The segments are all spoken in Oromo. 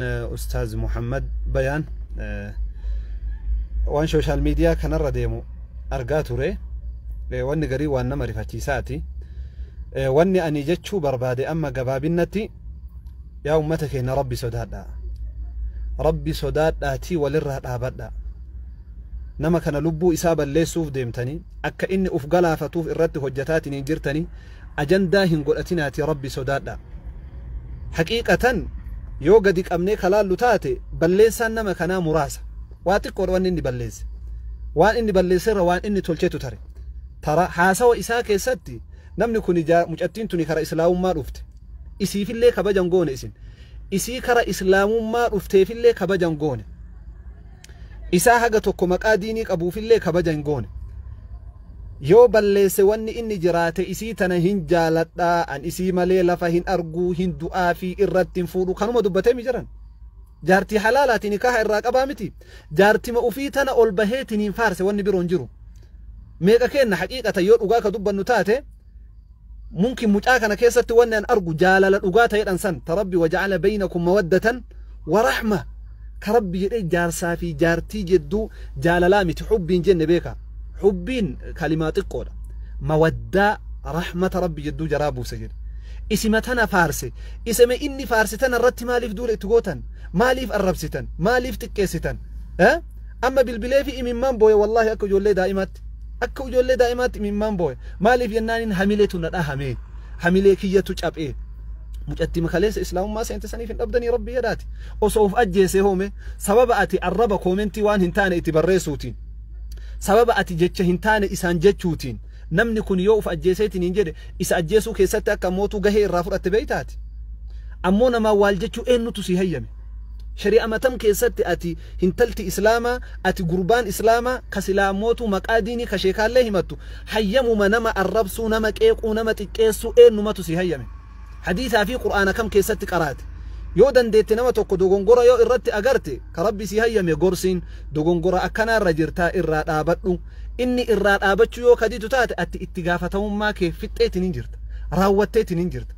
Ustaaz Muhammad Bayaan waan sooshaal miidiyaa kanarra deemu argaa ture wanni garii waan nama rifachiisaati wanni ani jechuu barbaade amma gabaabinnatti yaa ummata keenya rabbi sodaadha rabbi sodaadhaatii walirraa dhaabadha nama kana lubbuu isaa balleessuuf deemtanii akka inni uf galaafatuuf irratti hojjetaatiniin jirtanii ajandaa hin godhatinaatii Rabbi sodaadhaa. Haqiiqatan yoo gadi qabnee ka laallu taate balleessaan nama kanaa muraasa. Waa xiqqoodha wanni inni balleesse. Waan inni balleesse irra waan inni tolchetu tare. Tara haasawa isaa keessatti namni kuni jaa- mucattiin tuni kara islaamummaa dhufte. Isiifillee kabajan goone isin. Isii kara islaamummaa dhufteefillee kabajan goone. isaa haga tokko maqaa diinii qabuufillee kabaja hin goone. Yoo balleesse wanni inni jiraate isii tana hin jaaladha, an isii malee lafa hin argu, hin du'aafi, irratti hin fuudhu kanuma dubbatee mi jiran? Jaartii halaalaati nikaha irraa qabaa miti? Jaartima ufii tana ol baheetiniin faarse wanni biroon jiru. Meeqa keenna haqiiqatan yoo dhugaa ka dubbannu taate Mumkin mucaa kana keessatti wanni an argu jaalala dhugaa ta'edhan san ta Rabbi waja'ala baynakum mawaddatan wa rahma ka Rabbi jedhee jaarsaa fi jaartii jedduu jaalalaa miti hubbiin jenne beeka hubbiin kalimaa xiqqoodha mawaddaa rahmata Rabbi jedduu jaraa buuse jedhe isima tana faarse isime inni faarse tana irratti maaliif duula itti gootan maaliif arrabsitan maaliif xiqqeessitan eh? Amma bilbileefi imimmaan booye wallaahi akka ijoollee daa'imaatti. Akka ijoollee daa'imaatti imimmaan booye. Maaliif jennaanin hamiletu na dhahamee. Hamilee kiyyatu caphee. Mucattima kaleessa islaamummaa seente saniif hin dhabdanii rabbii yadaati. Osoo of ajjeesee hoome sababa ati arraba koomentii waan hin taane itti barreessuutiin. Sababa ati jecha hin taane isaan jechuutiin. Namni kun yoo of ajjeeseetiin hin jedhe isa ajjeesuu keessatti akka ammootuu gahee irraa fudhatte beeytaati. Ammoo namaa waal jechuu eennutu si hayyame. Shari'a matam keessatti ati hintalti islaamaa, ati gurbaan islaamaa ka silaa mootuu maqaa diinii ka sheekaallee himattu hayyamuma nama arrabsuu, nama qeequu, nama xiqqeessuu eennumatu sii hayyame? Hadiisaa fi qur'aana kam keessatti qaraate? Yoo dandeette nama tokko dogongora yoo irratti agarte ka rabbi sii hayyame gorsiin dogongora akkanaa irra jirtaa irraa dhaabadhu. Inni irraa dhaabachuu yoo ka didu taate atti itti gaafatamummaa kee fixxeetiniin jirta. Raawwatteetiniin jirta.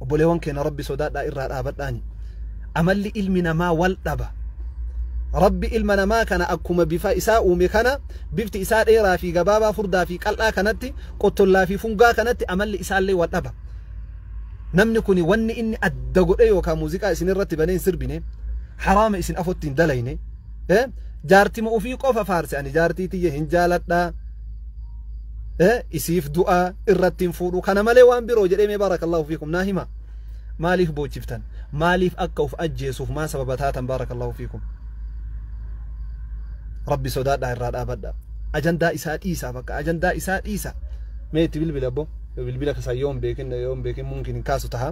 obboleewwan keenya rabbi sodaadhaa irraa dhaabadhaani amalli ilmi namaa wal dhaba rabbi ilma namaa kana akkuma bifa isaa uume kana bifti isaa dheeraa fi gabaabaa furdaa fi qal'aa kanatti qottollaa fi fungaa kanatti amalli isaallee wal dhaba namni kun wanni inni adda godhe yookaan muuziqaa isin irratti banee hin sirbine haraama isin afotti hin dalayne eh jaartima ofii qofa faarse ani jaartii tiyya hin jaaladhaa eh isiif du'a irratti hin fuudhu kana malee waan biroo jedhee mee baarakallahu fiikum naa hima maaliif boochiftan maaliif akka of ajjeesuuf maa sababa taatan baarakallahu fiikum rabbi sodaadhaa irraa dhaabadha ajandaa isaa dhiisaa bakka ajandaa isaa dhiisa mee itti bilbila abbo bilbila kasaa yoon beekin yoon beekin mumkin hin kaasu taha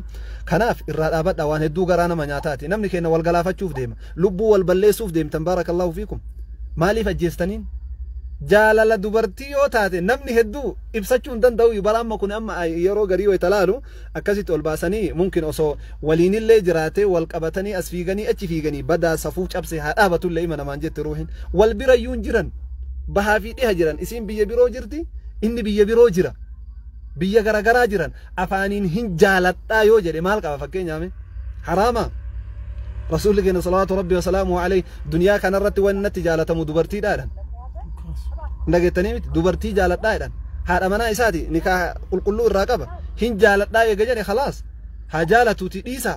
kanaaf irraa dhaabadha waan hedduu garaa nama nyaataati namni keenya wal galaafachuuf deema Lubbuu wal balleessuuf deemtan baarakallahu fiikum. Maaliif ajjeestaniin? Jaalala dubartii yoo taate namni hedduu ibsachuu hin danda'u bara amma kun amma yeroo garii wayita laalu akkasitti ol baasanii mumkin osoo waliinillee jiraatee wal qabatanii as fiiganii achi fiiganii badaa safuu cabse haa dhaabatullee ima namaan jette ruuhin wal birayyuu hin jiran bahaa fi dhiha jiran isiin biyya biroo jirti inni biyya biroo jira biyya garagaraa jiran afaaniin hin jaaladhaa yoo jedhe maal qaba fakkeenyaa mee haraama rasuulli keenya salawaatu rabbi wasalaamu alayhi duniyaa kanarratti wanni natti jaalatamu dubartiidhaadhan dhageettanii miti dubartii jaaladhaa jedhan haadha manaa isaati nikaa qulqulluu irraa qaba hin jaaladhaa eega jedhe khalaas haa jaalatuuti dhiisaa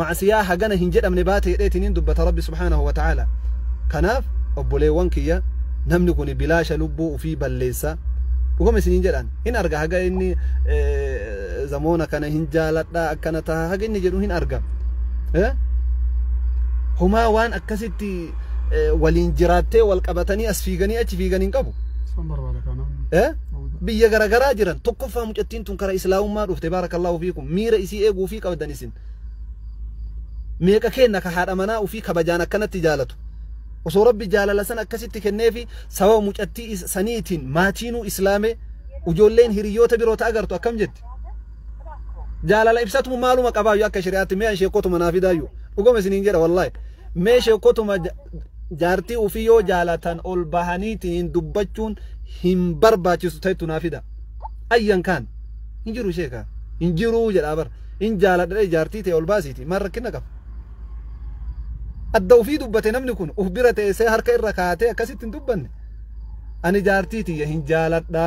ma'asiyaa hagana hin jedhamne baate jedheetiniin dubbata rabbi subhaanahu wa ta'aala kanaaf obboleewwan kiyya namni kuni bilaasha lubbuu ufii balleessa dhugama isiniin jedhaan hin arga haga inni zamoona kana hin jaaladha akkana taha haga inni jedhu hin arga homaa waan akkasitti waliin jiraattee wal qabatanii as fiiganii achi fiigan hin qabu biyya garagaraa jiran tokkoffaa mucattiin tun kara islaamummaa dhufte baarakallahu fiikum miira isii eeguu fi qabdan isin Meeqa keenna ka haadha manaa ufii kabajaan akkanatti jaalatu? Osoo Rabbi jaalala san akkasitti kenneefi sababa mucattii is- saniitiin maatiinuu islaamee ujoolleen hiriyyoota biroo ta agartu akkam jetti? Jaalala ibsatu maaluma qabaayyu akka shari'aatti mee an sheekkotuma naa fidaayyu. Dhugama isiniin jedha wallaahi. Mee sheekkotuma ja- jaartii ufii yoo jaalatan ol bahaniitiin dubbachuun hin barbaachisu ta'ettu naa fida. Ayyan kaan hin jiru sheekaa. Hin jiru jedhaa bara. hin jaaladha jedhee jaartii tee ol baasiiti maal rakkinna qaba adda ufii dubbate namni kun uf bira teessee harka irra kaatee akkasitti hin dubbanne ani jaartii tiyya hin jaaladha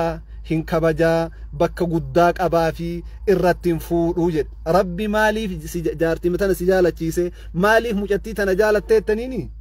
hin kabajaa bakka guddaa qabaa fi irratti hin fuudhuu jedhe rabbi maaliif si- jaartii tana si jaalachiise maaliif mucattii tana jaalatteettaniini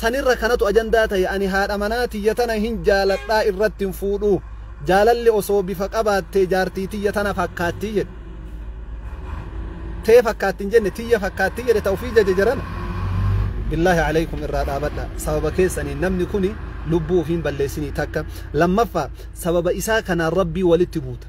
Sanirra kanatu ajandaa tahe ani haadha manaa tiyya tana hin jaaladha irratti hin fuudhu. Jaalalli osoo bifa qabaattee jaartii tiyya tana fakkaatti jedhe. Tee fakkaatti hin jenne tiyya fakkaatti jedhe ta ufii jaje jarana. Billaahi aleykum irraa dhaabadha. Sababa keessaniin namni kuni lubbuu ufii hin balleessinii takka. Lammaffaa sababa isaa kanaan Rabbii walitti buuta.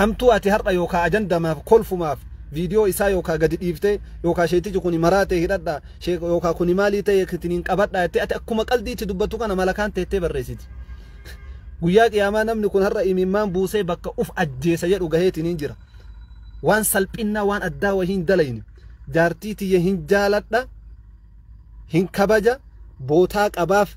Hamtuu ati har'a yookaa ajandamaaf kolfumaaf video isaa yookaa gadi dhiiftee yookaa sheetichi kuni maraatee hidhadha sheek yookaa kuni maalii ta'e kitiniin qabadha jettee ati akkuma qaldii itti dubbattu kana malakaan teettee barreessiti. Guyyaa qiyaamaa namni kun har'a imimmaan buusee bakka uf ajjeesa jedhu gaheetiniin jira. Waan salphinnaa waan addaa wahii hin dalayne. Jaartii tiyya hin jaaladha hin kabaja bootaa qabaaf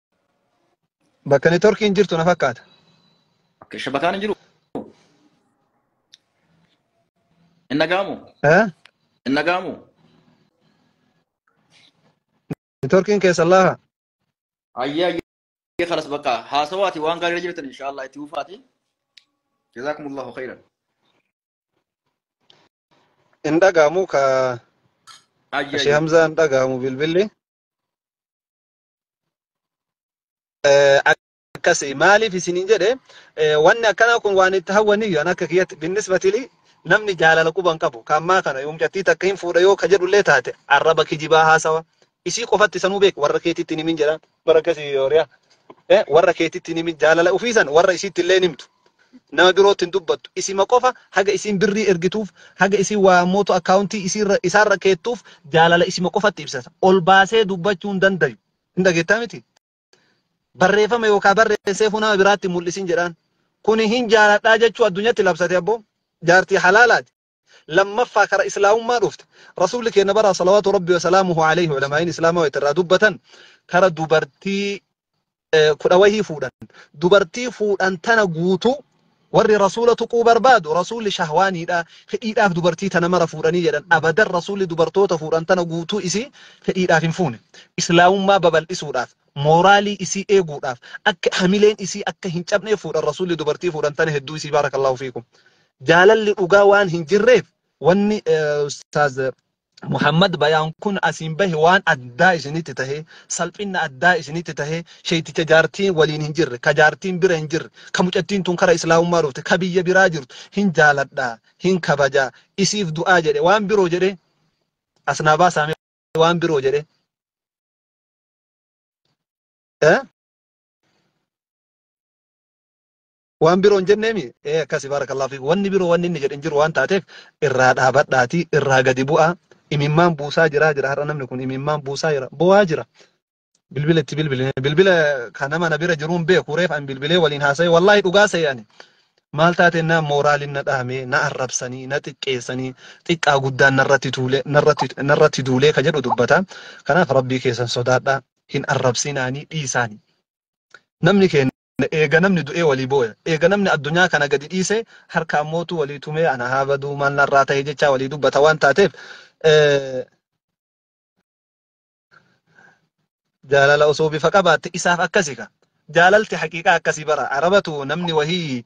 Bakka networkiin jirtu na fakkaata. Akka shabakaan hin jiru. Hin dhaga'amu. Eh? Hin dhaga'amu. Networkiin keessa laafa. Ayyee ayyee kalas bakka haasawaati waan gaarii irra jirtan inshaallah itti fufaati. Jazaakumullahu khayran. Hin dhaga'amu ka Ayyee Ashee ayyee. Hamzaa hin dhaga'amu bilbilli. akkasi maaliif isiniin jedhe wanni akkanaa kun waan itti hawwaniyyu an akka kiyyatti binnisbatili namni jaalala quban qabu kan ammaa kana yoomcattii takka hin fuudha yoo ka jedhullee taate arraba kijibaa haasawa isii qofatti sanuu beek warra keetitti hin himin jedha bara akkasii yooriya warra keetitti hin himin jaalala ufiisan warra isiitti illee hin himtu Nama birootti hin dubbattu. Isima qofa haga isiin birrii ergituuf, haga isiin waa ammootu akkaawuntii isiirra, isaarra keettuuf jaalala isima qofatti ibsata. Ol baasee dubbachuu hin dandayu. Hin dhageettaa miti? Barreeffama yookaa barreesseefuu nama biraatti hin mul'isin jedhaan. Kuni hin jaaladhaa jechuu addunyatti labsate abboo. Jaartii halaalaati. lammaffaa kara islaamummaa dhufte rasuulli keenya bara salawaatu rabbi wasalaamuhu alayhi ulamaa'iin islaamaa wayita irraa dubbatan kara dubartii eh, kudha wahii fuudhan dubartii fuudhan tana guutuu warri rasuula tuquu barbaadu rasuulli shahwaaniidha fedhiidhaaf dubartii tana mara fuudhanii jedhan abadan rasuulli dubartoota fuudhan tana guutuu isii fedhiidhaaf hin fuune islaamummaa babal'isuudhaaf mooraalii isii eeguudhaaf akka hamileen isii akka hin cabnee fuudhan rasuulli dubartii fuudhan tana hedduu isii baarakallahu fiikum jaalalli dhugaa waan hin jirreef wanni eh, ustaaz eh, Muhammad bayaan kun asiin bahe waan addaa isinitti tahe salphinna addaa isinitti tahe sheeyticha jaartiin waliin hin jirre ka jaartiin bira hin jirre ka mucattiin tun kara islaamummaa dhufte ka biyya biraa jirtu hin jaaladha hin kabaja isiif du'aa jedhe waan biroo jedhe asnaa baasaame waan biroo jedhe eh? Waan biroo hin jenneemi? Ee akkasi baarakallahu fiik. Wanni biroo wanni inni jedhe hin jiru waan taateef irraa dhaabadhaatii irraa gadi bu'aa. Imimmaan buusaa jiraa jira har'a namni kun imimmaan buusaa jira bo'aa jira. Bilbila itti bilbile bilbila kan nama na bira jiruun beeku reef an bilbilee waliin haasa'e wallaahi dhugaa se'e ani. Maal taate na mooraalin na dhahamee na arrabsanii na xiqqeessanii xiqqaa guddaan narratti tuulee narratti narratti duulee ka jedhu dubbata. Kanaaf rabbii keessan sodaadhaa hin arrabsinaanii dhiisaanii. Namni keenya Eega namni du'ee walii booya. Eega namni addunyaa kana gadi dhiisee harka ammootu walii tumee ana haa baduu maal narraa tahe jechaa walii dubbata waan taateef jaalala osoo bifa qabaatte isaaf akkasi ka. Jaalalti haqiiqaa akkasi bara. Arabatu namni wahii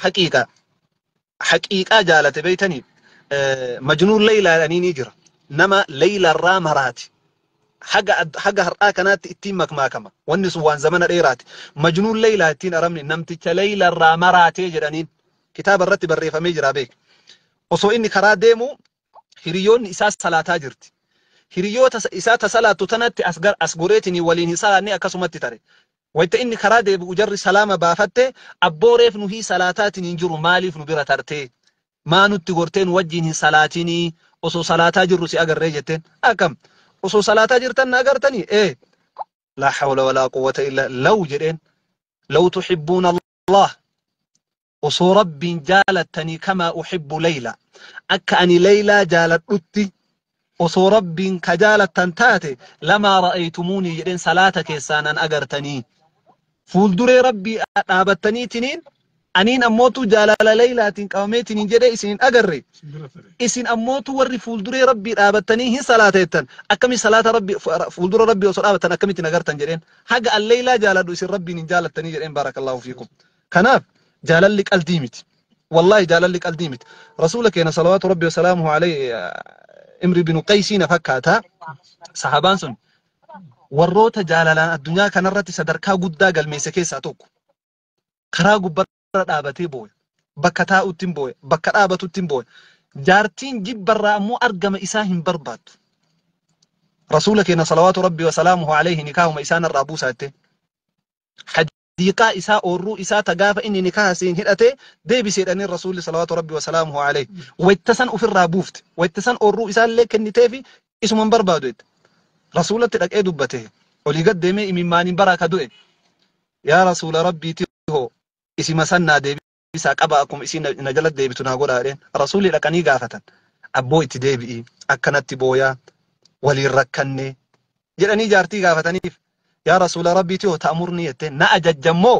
haqiiqa haqiiqaa jaalate beeytaniif majnuun leeylaa jedhaniinii jira nama leeyla irraa maraati haga haga har'aa kanaatti ittiin makmaakama wanni sun waan zamana dheeraati majnuun leeylaa ittiin arabni namticha leeyla irraa maraatee jedhaniin kitaaba irratti barreeffamee jira beek osoo inni karaa deemu hiriyoonni isaa salaataa jirti hiriyoota isaa ta salaattu tanatti as goreetinii waliin hin salaanne akkasumatti tare Wayta inni karaa deebi'u jarri salaama baafatte, Abboo reef nuhii salaataatiin hin jiru maaliif nu bira tartee? Maa nutti gortee nu wajjiin hin salaatinii? Osoo salaataa jirru si agarree jetteen. Akkam! Osoo salaataa jirtan na agartanii? Ee! Laa hawla walaa quwwata illa, Law jedheen. Law tuhibbuuna Allah osoo rabbiin jaalattanii kamaa uhibbu leeyla akka ani leeylaa jaaladhutti osoo rabbiin ka jaalattan taate lamaa ra'aytumuunii jedheen salaata keessaa nan agartanii fuulduree rabbii dhaabattaniitiniin aniin ammootu jaalala leeylaatiin qabameetiniin jedhee isin hin agarre isin ammootu warri fuulduree rabbii dhaabattanii hin salaateettan akkami salaata rabbi fuuldura rabbii osoo dhaabattan akkamitti hin agartan jedheen haga an leeylaa jaaladhu isin rabbiin hin jaalattanii jedheen baarakallaahu fiikum kanaaf jaalalli qaldii miti wallaahi jaalalli qaldii miti rasuula keena salawaatu rabbi wasalaamuhu alayhi imri binu qaysiina fakkaata sahabaan sun warroota jaalalaan addunyaa kanarratti sadarkaa guddaa galmeesse keessaa tokko karaa gubbaa irra dhaabatee booya. Bakka taa'utti hin booya. Bakka dhaabatutti hin booya. Jaartiin jibbarraa ammoo argama isaa hin barbaaddu. Rasuula keenya salawaatu rabbii wa salaamuhu alayhi nikaahuma isaa narraa buusaa jettee. Hadiiqaa isaa oorruu isaa ta gaafa inni nikaaha siin hidhatee deebiseedhanii rasuulli salawaatu rabbii wa salaamuhu alayhi. Wayta san ofirraa buufte. Wayta san oorruu isaa illee kenniteefi isuma hin barbaadu jette. Rasuulatti dhaqee dubbate. Olii gad deemee imimmaaniin baraa ka du'e. Yaa Rasuula Rabbii ti hoo isima san naa deebisaa qabaa akkuma isiin na na jalatti deebitu naa godhaa jedheen. Rasuulli dhaqanii gaafatan. Abboo itti deebi'i akkanatti booyaa waliin rakkanne jedhanii jaartii gaafataniif. Yaa Rasuula Rabbii ti hoo ta'amurni jetteen na ajajjan moo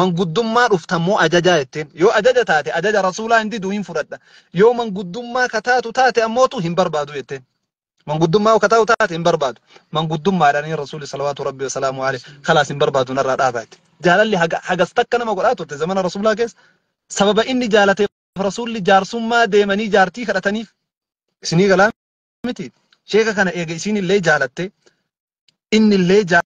manguddummaa dhuftan moo ajajaa jetteen. Yoo ajaja taate ajaja Rasuulaa hin didu hin fudhadha. Yoo manguddummaa ka taatu taate ammootu hin barbaadu jetteen. Manguddummaa akka ta'u taate hin barbaadu. Manguddummaadhaan Rasuulli salawaatu Rabbi wa salaamu alayhi khalaas hin barbaadu narraa dhaabaa itti. Jaalalli haga- hagas takka nama godhaa turte zamana Rasuulaa keessa. Sababa inni jaalateef Rasuulli jaarsummaa deemanii jaartii kadhataniif. Isinii galaa miti. Sheeka kana eega isiin illee jaalatte inni illee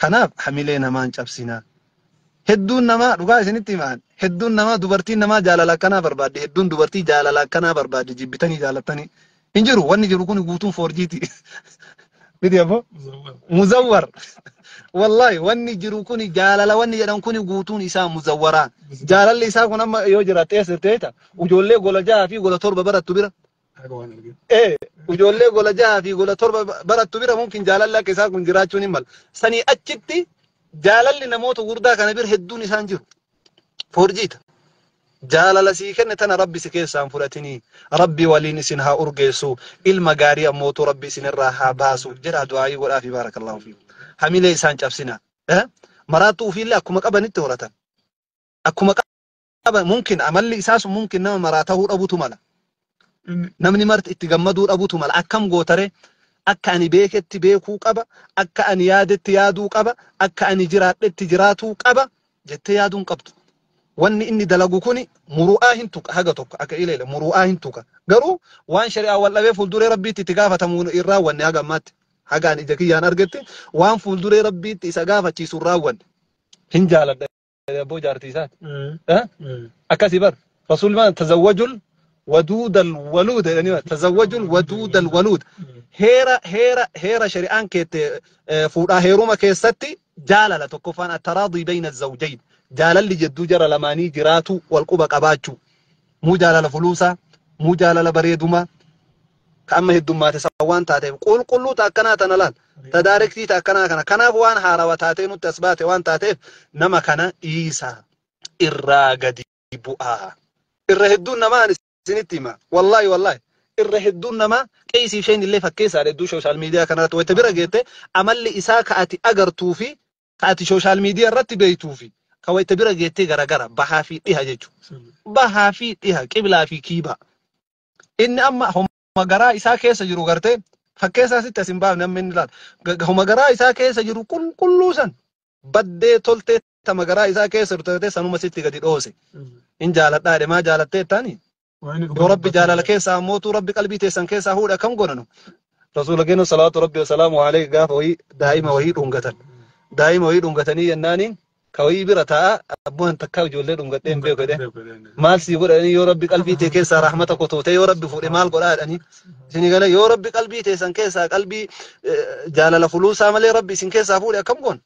Kanaaf hamilee namaa hin cabsinaa. Hedduun namaa dhugaa isinitti hima an. Hedduun namaa dubartiin namaa jaalala akkanaa barbaaddi. Hedduun dubartii jaalala akkanaa barbaaddi jibbitanii jaalattanii. Hin jiru wanni jiru kun guutuun foorjiiti. Miti abbo? Muzawwar. Wallahi wanni jiru kun jaalala wanni jedhan kun guutuun isaa muzawwaraa. Jaalalli isaa kun amma yoo jiraatte eessa jirti beekta? Ijoollee gola jahaa fi gola torba barattu bira. Haga waan arginu. Ee, ijoollee gola jahaa fi gola torba barattu bira mumkin jaalalli akka isaa kun jiraachuun hin mala. Sanii achitti jaalalli namoota gurdaa kana bira hedduun isaan jiru. Foorjiita. Jaalala sii kenne tana rabbi si keessaa hin fudhatinii. Rabbi waliin isin haa urgeessu. Ilma gaarii ammootu rabbi isin irraa haa baasu. Jedhaa du'aayii godhaa fi baarakallahu fi. Hamilee isaan cabsina. Eh? Maraattuu ufiillee akkuma qabanitti horatan. Akkuma qaba mumkin amalli isaa sun mumkin nama maraa tahuu dhabutu mala namni marti itti gammaduu dhabutu mala akkam gootare akka ani beeketti beekuu qaba akka ani yaadetti yaaduu qaba akka ani jiraadhetti jiraatuu qaba jettee yaaduun qabdu wanni inni dalagu kuni muru'aa hin tuqa haga tokko akka ileele muru'aa hin tuqa garuu waan shari'aa wal dhabee fuulduree rabbiitti itti gaafatamu hin raawwanne haga ammaatti haga ani ija kiyyaan argetti waan fuulduree rabbiitti isa gaafachiisu hin raawwanne hin jaaladha abboo jaartii isaati. Eh? Akkasii bar. Rasuulli maal tazawwajul waduudal waluud jedhanii maal tazawwajul waduudal waluud. Heera heera heera shari'aan keette eh, fuudhaa heeruma keessatti jaalala tokkoffaan attaraadii bayna zawjayn jaalalli jidduu jara lamaanii jiraatu wal quba qabaachuu. Muu jaalala fuluusaa, muu jaalala bareedumaa, ta amma heddummaate san waan taateef qulqulluu ta akkanaa tana laal ta daarektii ta akkanaa kana kanaaf waan haarawa taatee nutti as baate waan taateef nama kana dhiisa irraa gadi bu'aa irra hedduun namaa ani isinitti hima wallaahi wallaahi irra hedduun namaa qeesii isheen illee fakkeessaadha hedduu sooshaal miidiyaa kanarratti wayita bira geette amalli isaa ka ati agartuu fi ka ati sooshaal miidiyaa irratti beektuu fi ka wayita bira geettee garagara bahaa fi dhiha jechuudha. Bahaa fi dhiha qiblaa fi kiibaa. Inni amma homa garaa isaa keessa jiru gartee fakkeessaa sitti as hin baafne amma inni laal. Ga- ga- Homa garaa isaa keessa jiru qulqulluu san baddee toltee tama garaa isaa keessa jirtu gartee sanuma sitti gadi dhoose. In jaaladhaa jedhe maa jaalattee jettaanii? Waan inni Yoo dhugaa rabbi dubbatu jaalala jaalata. keessaa mootuu rabbi qalbii teessan keessaa huudha kam godhanu. Rasuula keenya salaatu rabbi wasalaamu alayhi gaafa wayii daa'ima wayii dhungatan. Daa'ima wayii dhungatanii jennaaniin ka wayii bira taa'a abboo an takkaa ijoollee dhungadhee hin beeku jedhee maal sii godha jedhanii yoo rabbi qalbii tee keessaa rahmata kotootee yoo rabbi fuudhe maal godhaa jedhanii isinii gala yoo rabbi qalbii teessan keessaa qalbii eh, jaalala fuluusaa malee rabbi isin keessaa fuudhe akkam goon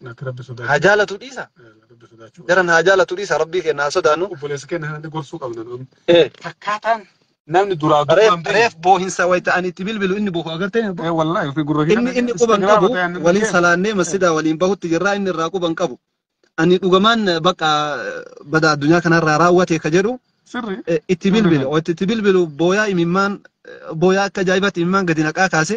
Natti rabbi haa sodaachuu. jaalatu dhiisa Rabbi sodaachuu. jaran haa jaalatu dhiisa rabbii keenya haa sodaannu Obboleessa keenya kanatti gorsuu qabna nuun. Eh, Akkaataan namni duraa duuba Reef, hin beekne. reef boohinsa wayita ani itti bilbilu inni bohu agartee abbo. Eh, wallahi fi gurra Inni inni quba hin qabu waliin salaannee masjidaa waliin bahutti jirraa inni irraa quba hin qabu. Ani dhugamaan bakka bada addunyaa kanarraa raawwate ka jedhu Sirri. eh, itti bilbile. Wayita itti bilbilu booyaa imimmaan eh, booyaa akka ajaa'ibaatti imimmaan gadi naqaa kaase.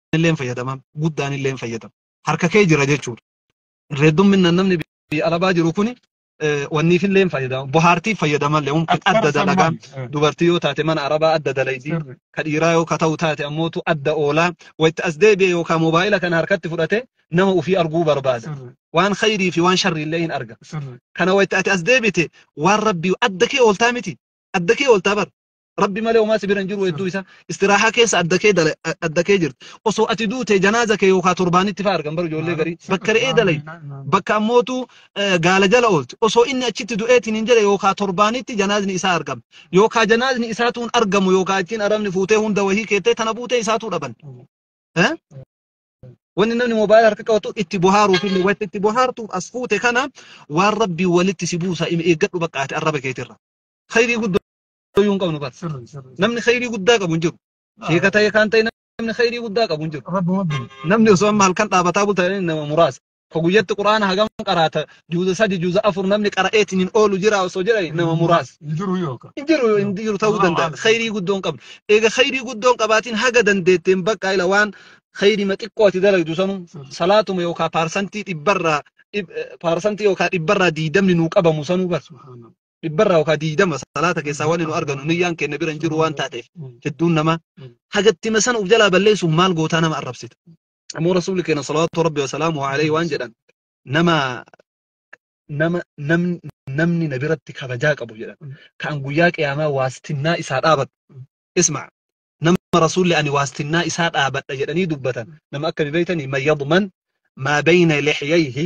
illeen fayyadaman guddaan illeen fayyadamu harka kee jira jechuudha. Reeddumminaan namni biyya alabaa jiru kuni eh, wanniif illeen fayyadama bohaartiif fayyadamallee humna Akkuma adda sammaan. dalagaan Eh, dubartii yoo taate mana arabaa adda dalaydi sirri. ka dhiiraa yoo ka ta'u taate ammootu adda oolaa wayita as deebi'e yookaan moobaayila kana harkatti fudhate nama ofii arguu barbaada Sirri. waan khayrii fi waan sharrii illee hin arga Sirri. kana wayita ati as deebite waan rabbii adda kee ooltaa miti adda kee ooltaa bar rabbi malee homaa si bira hin jiru hedduu isaa istiraahaa keessa adda kee dala- adda kee jirti osoo ati duute janaaza kee yookaan torbaanitti fa'aa argan bara ijoollee garii bakka re'ee dalay bakka ammootu eh, gaala jala oolti osoo inni achitti du'eetiin hin jedhe yookaan torbaanitti janaazni isaa argama yookaan janaazni isaatu hin argamu yookaan achiin arabni fuutee hunda wahii keettee tana buutee isaatu dhaban. Eh? Wanni namni moobaayila harka qabatu itti bohaaruuf illee wanti itti bohaartuuf as fuute kana waan rabbii walitti si buusa eeggadhu baqqaate arraba keetirra. Khayrii guddaa. yoo hin qabnu bas sirri sirri namni khayrii guddaa qabu hin jiru sheeka ta'e kaan ta'e namni khayrii guddaa qabu hin jiru rabbi rabbi namni osoo amma halkan dhaabataa bulta jedhanii nama muraasa ka guyyatti quraana hagam qaraata juuza sadi juuza afur namni qara'eetiin hin oolu jira osoo jedhani nama muraasa hin jiru yookaan hin jiru hin jiru ta'uu danda'a khayrii guddoon qabdu eega khayrii guddoon qabaatiin haga dandeetteen bakka ila waan khayrii ma xiqqoo ati dalagdu sanu salaatuma yookaan paarsantii dhibbarraa dhib- eh, paarsantii yookaan dhibbarraa diidamni nuu qabamu sanuu bar subhaanallah dhibbarraa yookaan diidama salaata keessaa wanni nu arganu niyyaan keenya bira hin jiru waan taateef hedduun namaa hagattima sana uf jalaa balleessuuf maal gootaa nama arrabsita. Ammoo rasuulli keenya salawaatu rabbi wasalaamu alayhi waan jedhan nama nama namni namni na biratti kabajaa qabu jedhan kan guyyaa qiyaamaa waastinnaa isaa dhaabadhu isma nama rasuulli ani waastinnaa isaa dhaabadha jedhanii dubbatan nama akka beeytanii man yadman maa bayna lixyayhi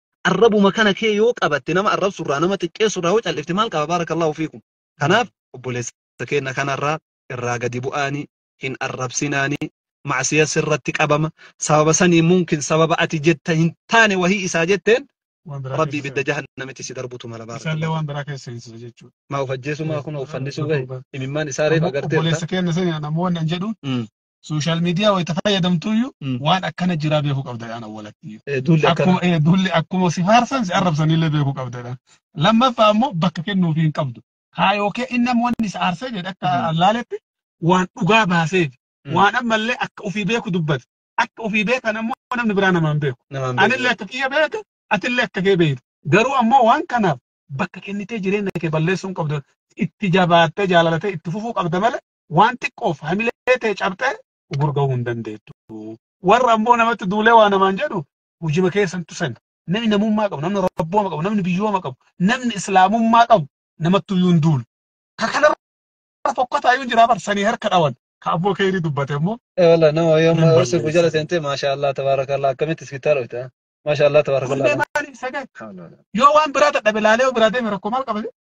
arrabuma kana kee yoo qabatte nama arrabsu irraa nama xiqqeessu irraa yoo callifte maal qaba baarakallaahu fiikum kanaaf obboleessa keenya kanarraa irraa gadi bu'aanii hin arrabsinaanii macsiya sirratti qabama sababa sanii mumkin sababa ati jetta hin taane wahii isaa jetteen waan biraa rabbii keessa ibidda jahannamitti si darbutu mala isaallee baarakallaahu waan biraa keessa seensisa jechuudha. maa of ajjeesuu maa kun of fannisuuf gahe imimmaan isaa reef agarteerta Obboleessa keenya sani namoonni an jedhu Mm. sooshaal miidiyaa wayita fayyadamtuuyyu Mm. waan akkana jiraa beekuu qabda jedhaan awwalattiyyuu. Eh, Duulli akkana. Akkuma eh, duulli akkuma si faarsan si arrabsanillee beekuu qabda jedhaan. Lammaffaa ammoo bakka kennuuf hin qabdu. Kaayoo kee inni ammoo inni si aarsee jedhe akka Mm. allaaletti waan dhugaa baaseef Mm. waan ammallee akka ofii beeku dubbate. Akka ofii beekan ammoo namni biraa namaan beeku. Namaan beeku. Anillee akka kiyya beeka, atillee akka kee beektu. Garuu ammoo waan kanaaf bakka kennitee jireenya kee balleessuu hin qabdu. Itti jabaattee jaalalatee itti fufuu qabda malee waan xiqqoof hamilee tee cabxee ugur gahuu hin dandeettu. Warra amboo namatti duulee waa namaan jedhu hujima keessantu sena. Namni namummaa qabu, namni rabbooma qabu, namni biyyooma qabu, namni islaamummaa qabu namatti iyyuu hin duulu. Ka kanarra fokkataa iyyuu hin jiraa bar sanii harka dhawan. Ka abboo keerii dubbate immoo Eh, Wallah nama hin yooma ursi balleessu. gujala seentee maashaallah tabaarakallah akkamitti iskittaa dhufte maashaallah tabaarakallah. Wallee maaliif sagee? Yoo waan biraa dadhabe laalee yoo biraa deeme rakkoo maal qaba?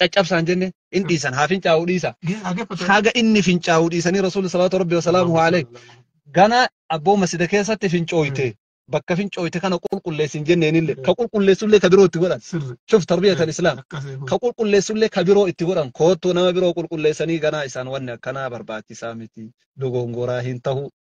caccabsaan jenne in dhiisan haa fincaa'uu dhiisa haga inni fincaa'uu dhiisanii rasuulli salaatu rabbi wasalaamu alee gana abboo masjida keessatti fincooyte bakka fincooyte kana qulqulleessin jenneenille ka qulqulleessullee ka biroo itti godhan shuf tarbiyatan islaam ka qulqulleessullee ka biroo itti godhan koottuu nama biroo qulqulleessanii ganaa isaan wanni akkanaa barbaachisaa miti dogongoraa hin tahu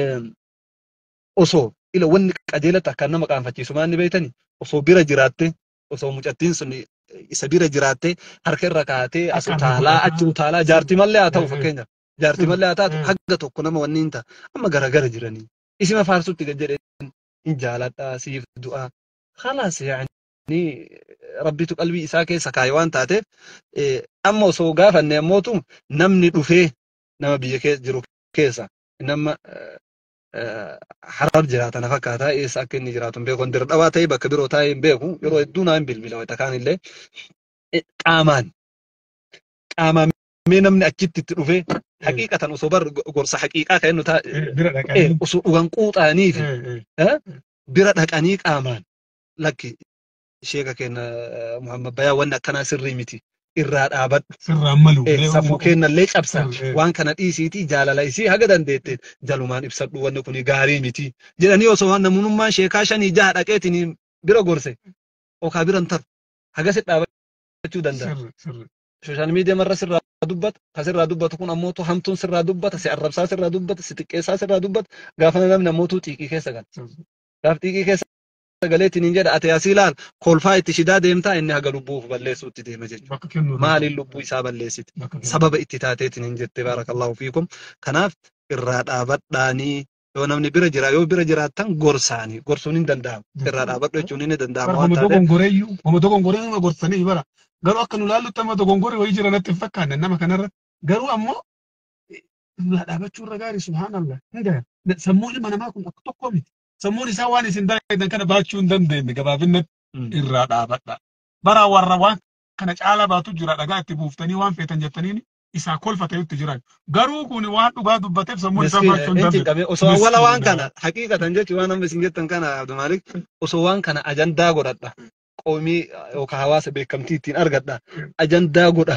em, osoo ila wanni qajeela ta'a kan nama qaanfachiisu maal ni beektani osoo bira jiraatte osoo mucattiin sun isa bira jiraatte harka irra kaatee as Akka utaalaa argaa achi utaalaa jaarti mallee haa ta'u fakkeenyaaf jaarti mallee haa taatu hanga tokko nama wanni hin ta'a amma garagara jiranii isima faarsutti gad jedhee hin jaaladhaa siif du'aa khalaas yaani rabbitu qalbii isaa keessa kaa'e waan taateef eh, amma osoo gaafanne ammootu namni dhufee nama biyya keessa jiru keessa inni amma harar jiraata na fakkaata eessa akka inni jiraatu hin beeku dir dhawaa ta'ee bakka biroo taa'ee hin beeku yeroo hedduu naa hin bilbila wayita kaan illee qaamaan qaamaan mee namni achitti itti dhufee haqiiqatan osoo bar gorsa haqiiqaa kan inni taa'e osoo dhugan quuxaanii fi bira dhaqanii qaamaan lakki sheeka keenya Muhammad Bayaa wanni akkanaa sirrii miti irraa dhaabadhu. Sirraan malu. Eh, Mee safuu uuma- keenyallee cabsa Eh, eh. waan kana dhiisiitii jaalala isii haga dandeetteen jalumaan ibsadhu wanni kun gaarii miti jedhanii osoo waan namunummaan sheekaa shanii jaha dhaqeetiin bira gorse okaa biran taru hagasi dhaabachuu danda'a. Sirri, sirri. Sooshaal miidiyaa marra sirraa dubbata kan sirraa dubbatu kun ammoo tu hamtuun sirraa dubbata si arrabsaa sirraa dubbata si xiqqeessaa sirraa dubbata gaafa namni ammoo tu xiiqii keessa gala. Sirri. Gaaf xiiqii keessa sagalee tiniin jedha ati asii laal kolfaa itti shidaa deemtaa inni haga lubbuu of balleessuutti deema jechuudha. Bakka kennu irraa Maaliin lubbuu isaa balleessite? bakka kennu. Sababa itti taatee tiniin jette baarakallahu fiikum. Kanaaf irraa dhaabadhaanii yoo namni bira jira yoo bira jiraattan gorsaanii gorsuun hin danda'amu. Irraa dhaabadhu jechuun inni danda'ama Bara waan homa taateef. dogongoreeyyu homa dogongoree nama gorsanii bara garuu akka nu laallutti amma dogongorri wayii jira natti hin fakkaanne nama kanarratti garuu ammoo irraa dhaabachuu irra gaarii subhaanallah hin gahan sammuu ilma namaa kun akka tokko miti sammuun isaa waan isin dalagan kana baachuu hin dandeenye gabaabinnatti Mm. irraa dhaabadha. Bara warra waan kana caalaa baatu jira dhagaa itti buuftanii waan feetan jettaniin isaa kolfa ta'utti jiran. Garuu kun waan dhugaa dubbateef sammuun isaa Miskiin, baachuu hin hin dandeenye. cinqamee osoo Miskiin awwala waan nama. kana haqiiqatan jechuun waan amma isin jettan kana Abdu Maalik osoo waan kana ajandaa godhadha qoomii yookaan hawaasa beekamtii ittiin argadha ajandaa godha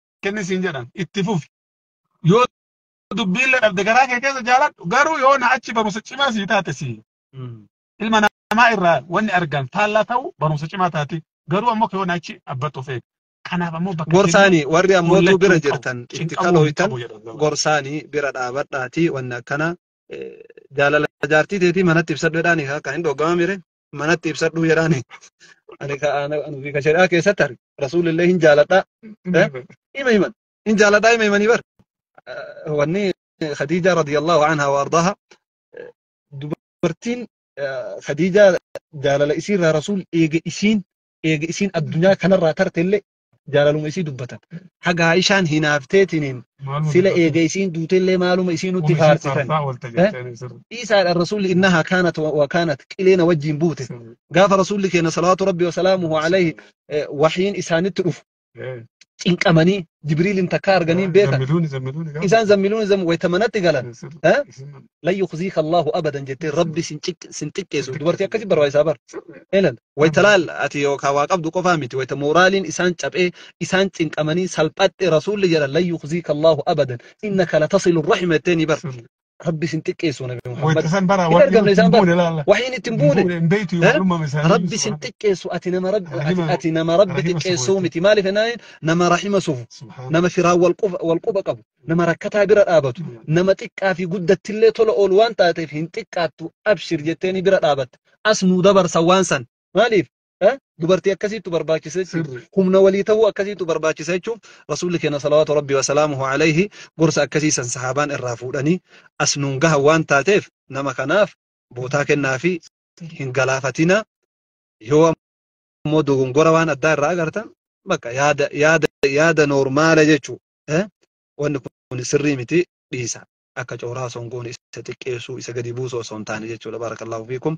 kenni siin jedhan itti fufi yoo dubbiillee dhabde garaa kee keessa jaaladhu garuu yoo na achi barumsa cimaa sii taate sii ilma namaa irraa wanni argan faallaa ta'u barumsa cimaa taati garuu ammoo yoo na achi abbattuuf eega kanaaf ammoo bakka gorsaanii warri ammootuu bira jirtan itti kalooytan gorsaanii bira dhaabadhaatii wanni akkana jaalala jaartii teetii manatti ibsadhu jedhaanii akka hin dhoggamamire manatti ibsadhuu jedhaani ani ka ana ani ka shari'aa keessatti arge rasuulillee hin jaaladhaa eh, hima himan hin jaaladhaa hima himanii bar Eh, wanni khadiijaa radiyallahu anha wa ardaaha eh, dubartiin eh, khadiijaa jaalala isiirraa rasuul eega isiin eega isiin addunyaa kanarraa tartellee jaalaluma isii dubbatan. Haga Aishaan hinaafteetiniin Maaluma sila dubbatan? eega isiin duutellee maaluma isii nutti Kun ishii faarsitan. faarsaa oolte Eh? jettanii sirri. Dhiisaadhaan rasuulli innahaa kaanat wa wa kaanat qileena wajjiin buute. Sirri. Gaafa rasuulli keenya salawaatu rabbi wa salaamuhu alayhi eh, wahyiin isaanitti dhufu Eh, cinqamanii jibriiliin takka arganii hin beekan. Zammiluuni zammiluuni gaafa. Isaan zammiluun zam wayta manatti galan. Eh, sirri. Eh? Isin- Lan yukhziika Allahu abadan jettee rabbi sin ciq- sin xiqqeessu. Dubartii akkasii barbaachisaa bar. Sirri. Elal. Wayta laal ati yookaan waa qabdu qofaa miti wayta mooraaliin isaan caphee isaan cinqamanii salphatte rasuulli jedhan lan yukhziika Allaahu abadan innaka latasilu rahima jetteeni bar rabbi sin xiqqeessu nabi Muhammad Wayta san bara hin wahyiin argamne itti isaan hin bar buune laalla. wahyiin itti hin Hin buune buune hin beektu Eh? maalummaa isaanii rabbi ibsu sin Rabbi. xiqqeessu ati nama rabbi ati, Rahima ati nama rabbi rahima xiqqeessuu subuuti. miti maaliif jennaan nama rahima sufu Subhaanallah. nama firaan wal quba- wal quba qabu nama rakkataa bira dhaabatu nama xiqqaa fi guddattillee tola oolu waan taateef hin xiqqaattu abshir jetteeni bira dhaabatte as nuu dabarsa waan san. Maaliif? Eh? Dubartii akkasiittu barbaachisa jechuudha. Sirri. Humna walii ta'uu akkasiittu barbaachisa jechuun Rasuulli keenya salawaatu Rabbi wasalaamuhu alayhi gorsa akkasii san sahaabaan irraa fuudhanii as nuun gahan waan taateef nama kanaaf bootaa kennaa fi hin galaafatina yoo ammoo dogongora waan addaa irraa agartan bakka yaada yaada yaada noormaala jechuu eh? wanni kun sirrii miti dhiisa. akka cooraa osoo hin goone isa xiqqeessuu isa gadi buusuu osoo hin taane jechuudha baarakallaahu fiikum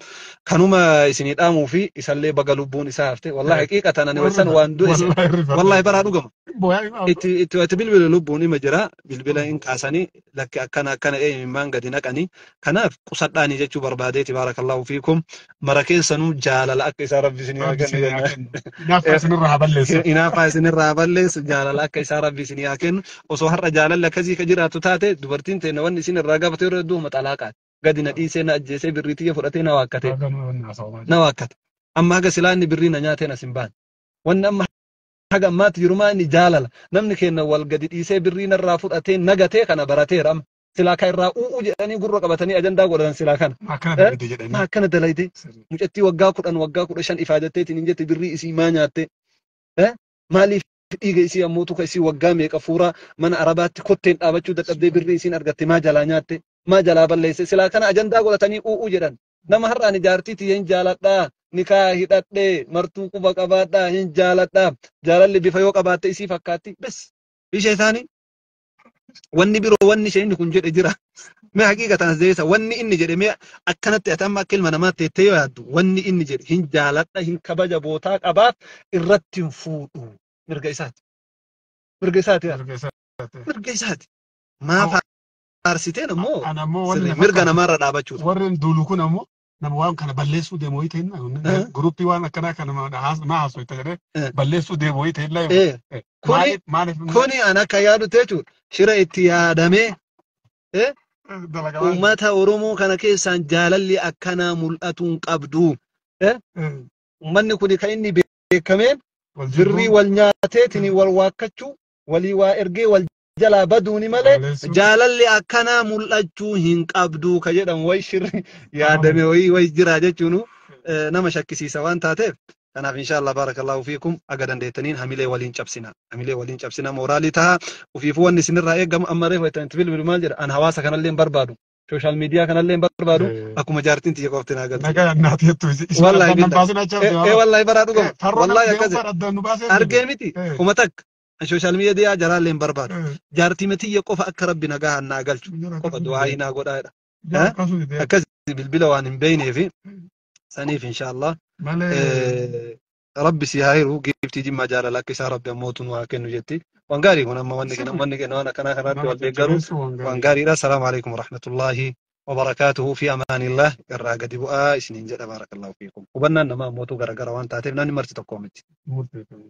kanuma isinii dhaamuu fi isallee baga lubbuun isaa hafte wallahi haqiiqa tanani waysan waan du'e isa wallahi baraa dhugama itti itti itti bilbila lubbuun ima jira bilbila hin kaasanii lakki akkana akkana ee imimmaan gadi naqanii kanaaf qusadhaanii jechuu barbaadeeti baarakallaahu fiikum mara keessanuu jaalala akka isaa rabbi isinii haa Rabbi kennu isin haa jennaan. kennu. Hinaaffaa isinirraa haa balleessu. Hinaaffaa isinirraa haa balleessu jaalala akka isaa rabbi isinii haa kennu. Osoo har'a jaalalli akkasii ka jiraatu taate dubartiin teenya wanni isin irraa gaafatu yeroo hedduu maxalaaqaati. Gadi na dhiisee na ajjeesee birrii tiyya fudhatee na waakkatee Haga nama wanni haasa'umaa na jiru. waakkate. Amma haga silaa inni birrii na nyaatee na sin baane. Wanni amma haga ammaatti jirumaa inni jaalala. Namni keenya wal gadi dhiisee birrii narraa fudhatee nagatee kana barateera amma. silaa kan irraa u'uu jedhanii gurra qabatanii ajandaa godhatan silaa kana. Maa akkana Eh? dalagde jedhanii. Maa akkana dalayde Sirrii. mucattii waggaa kudhan waggaa kudha shan ifaa jetteetiin hin jette birrii isii maa nyaatte Eh? maaliif dhiiga isii ammoo tuka isii waggaa meeqa fuuraa mana arabaatti kotteen dhaabachuu dadhabdee birrii isiin argatte maa jalaa nyaatte maa jalaa balleesse silaa kana ajandaa godhatanii u'uu jedhan nama har'aan ijaartii tiyya hin jaaladhaa nikaa hidhadhee martuu quba qabaadhaa hin jaaladhaa jaalalli bifa yoo qabaatte isii fakkaatti bes ishee isaanii wanni biroo wanni sheekni kun jedhe jira mee haqiiqa tanas deebisa wanni inni jedhe mee akkanatti ati amma akka ilma namaatti jettee yoo yaaddu wanni inni jedhe hin jaaladha hin kabaja bootaa qabaaf irratti hin fuudhu mirga isaati mirga isaati yaa Mirga isaati. mirga isaati maa Hoo, faarsiteen ammoo Ana ammoo wanni sirrii na mirga fakkaatu namaarra dhaabachuudha warreen duulu kun ammoo nama waan kana balleessuu deemu wayii ta'inna Eh. guruppii waan akkanaa kana nama haas- naa haasoo itti jedhee Eh. balleessuu deemu wayii ta'inna Eh, kuni maaliif maaliif kuni an akka yaadu teechu shira itti yaadamee eh, dalagaa waan uummata Oromoo kana keessaan jaalalli akkanaa mul'atuu hin qabdu. Eh, Eh, Uummanni kuni kan inni beekameen wal birrii jibbuu wal nyaateetiin wal waakkachuu walii waa ergee wal jalaa baduuni malee Balleessuun. jaalalli akkanaa mul'achuu hin qabdu ka jedhamu wayi shirri yaadame wayi wayi jira jechuun eh, nama shakkisiisa waan taateef kanaaf inshaallah barakallahu fiikum aga dandeettaniin hamilee waliin cabsina hamilee waliin cabsina mooraalii taha ofiifuu wanni isinirraa eegamu amma reefu itti itti bilbilu maal jedha an hawaasa kanallee hin barbaadu sooshaal miidiyaa kanallee hin barbaadu Eh. akkuma jaartiin tiyya qofti naa galti Nagaa naati jettu isi isi Wallahi addan nan billahi. baasin acha Eh, eh, wallahi baraa dhugama. Wallahi akkasi. Argee miti. Eh. Kuma takka. social media jaraallee hin barbaadu jaartii matiyya qofa akka rabbi nagahaan naa galchu qofa du'aayii naa godhaa jedha Yaa akkasuma ta'e. akkas bilbila waan hin beeyneefi saniif inshaallah Malee. Eh, rabbi si haa hiru giiftii jimmaa jaalala akka isaa rabbi ammootu nu haa kennu jetti waan gaarii kun amma wanni kenna wanni kenna waan akkanaa kanaatti wal deeggaru waan gaariidha salaamu alaikum warahmatullaahi wabarakaatuhu fi amaanillah irraa gadi bu'aa isiniin jedha baarakallahu fiikum hubannaan namaa ammootu garagara waan taateef namni marti tokkoo miti Murteeffame.